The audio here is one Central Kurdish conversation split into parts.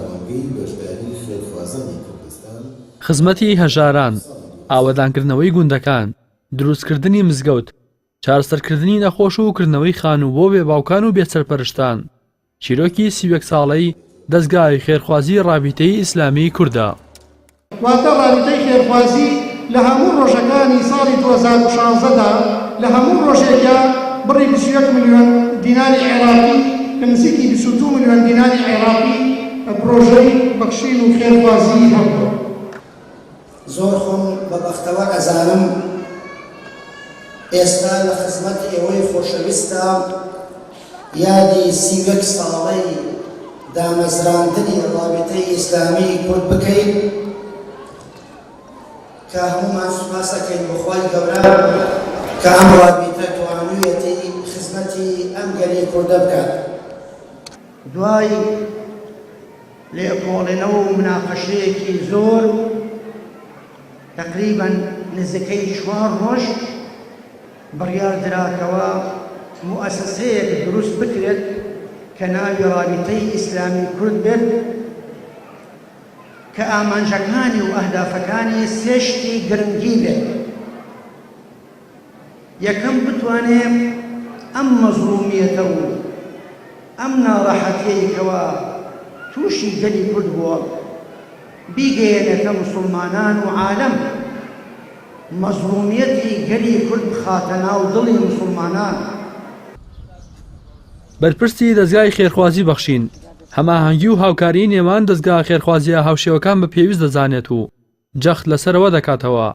پێمانگەی بەشداری خێرخوازانی کوردستان. خزمەتی هەژاران، ئاوەدانکردنەوەی گوندەکان، دروستکردنی مزگەوت، چارەسەرکردنی نەخۆش و کردنەوەی خانوو بۆ بێباوکان و بێسەرپەرشتان، چیرۆکی سی و یەک ساڵەی دەزگای خێرخوازی ڕابیتەی ئیسلامیی کوردە. واتە رابیتەی خێرخوازی لە هەموو رۆژەکانی ساڵی دوو هەزار و شازدە دا لە هەموو رۆژێکیا بڕی بیست و یەک ملیۆن دیناری عێراقی کە نزیکی بیست و دوو ملیۆن دیناری عێراقی پرۆژەی بەخشین و خێرخوازیی هەبووە. زۆر خۆم بە بەختەوەر ئەزانم ئێستا لە خزمەت ئێوەی خۆشەویستدا. یادی سی و یەک ساڵەی دامەزراندنی ڕابیتەی ئیسلامی کورد بکەین کە هەموومان سوپاس ئەکەین بۆ خوای گەورە کە ئەم ڕابیتە توانویەتی خزمەتی ئەم گەلی کوردە بکات دوای لێکۆڵێنەوە و مناقەشەیەکی زۆر تقریبا نزیکەی چوار ڕۆژ بڕیاردرا کەوا موئەسەسەیەک دروست بکرێت کە ناوی رابیتەی ئیسلامی کورد بێت کە ئامانجەکانی و ئەهدافەکانی سێ شتی گرنگی بێت یەکەم بتوانێت ئەم مەزڵومیەتە و ئەم ناڕەحەتیەی کەوا تووشی گەلی کورد بووە بیگەیەنێتە موسڵمانان و عالەم مەزڵومیەتی گەلی کورد بخاتە ناو دڵی موسڵمانان. بەرپرسی دەزگای خێرخوازی بەخشین، هەماهەنگی و هاوکاریی نێوان دەزگا خێرخوازییە هاوشێوەکان بە پێویست دەزانێت و جەخت لەسەرەوە دەکاتەوە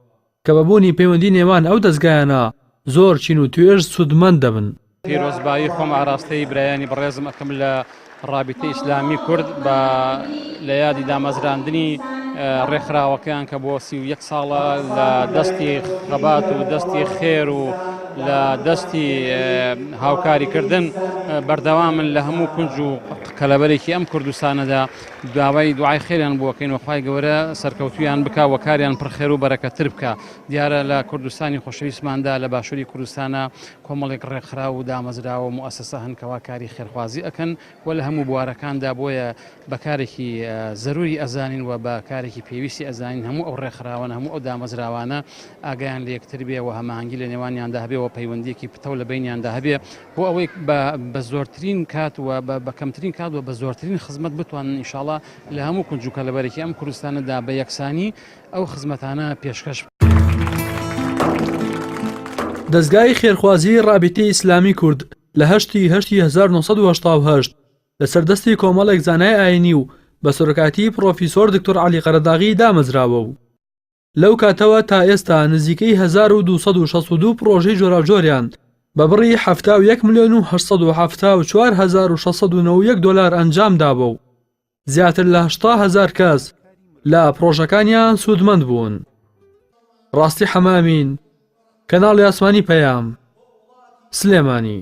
کە بە بوونی پەیوەندی نێوان ئەو دەزگایانە زۆر چین و توێژ سوودمەند دەبن. پیرۆزبایی خۆم ئاراستەی برایانی بەڕێزم ئەکەم لە ڕابیتی ئیسلامی کورد بە لە یادی دامەزراندنی ڕێکخراوەکەیان کە بۆ سی و یەک ساڵە لە دەستی خەبات و دەستی خێر و لە دەستی هاوکاریکردن بەردەوامن لە هەموو کونج و کەلەبەرێکی ئەم کوردستانەدا داوای دوعای خێریان بووەکەین وخوای گەورە سەرکەوتویان بک و کاریان پرخێر و بەرەکەتر بکە دیارە لە کوردستانی خۆشەویستماندا لە باشووری کوردستانە کۆمەڵێک ڕێکخراو و دامەزراوە و موئەسەسە هەن کەوا کاری خێرخوازی ئەکەن و لە هەموو بوارەکاندا بۆیە بە کارێکی زەروری ئەزانین و بە کارێکی پێویستی ئەزانین هەموو ئەو ڕێکخراوانە هەموو ئەو دامەزراوانە ئاگایان لە یەکتر بێ و هەماهەنگی لە نێوانیاندا هەبێ و پەیوەندیەکی پتەو لە بەینیاندا هەبێ بۆ ئەوەی بە زۆرترین کات و بە کەمترین کات و بە زۆرترین خزمەت بتوانن ئینشاڵا لە هەموو کونج و کەلەبەرێکی ئەم کوردستانەدا بە یەکسانی ئەو خزمەتانە پێشکەش. دەزگای خێرخوازیی ڕابیتەی ئیسلامی کورد لە هەشت ی هەشت ی هەزار و نۆ سەد و هەشتا و هەشت لە سەر دەستی کۆمەڵێک زانای ئایینی و بە سەرۆکایەتیی پڕۆفیسۆر دکتۆر عەلی قەرەداغی دامەزراوە و لەو کاتەوە تا ئێستا نزیکەی هەزار و دوو سەد و شەست و دوو پڕۆژەی جۆراوجۆریان بە بڕی حەفتا و یەک ملیۆن و هەشت سەد و حەفتا و چوار هەزار و شەش سەد و نەوە و یەک دۆلار ئەنجام داوە و زیاتر لە هەشتا هەزار کەس لە پڕۆژەکانیان سوودمەند بوون ڕاستی حەمامین کەناڵی ئاسمانی پەیام سلێمانی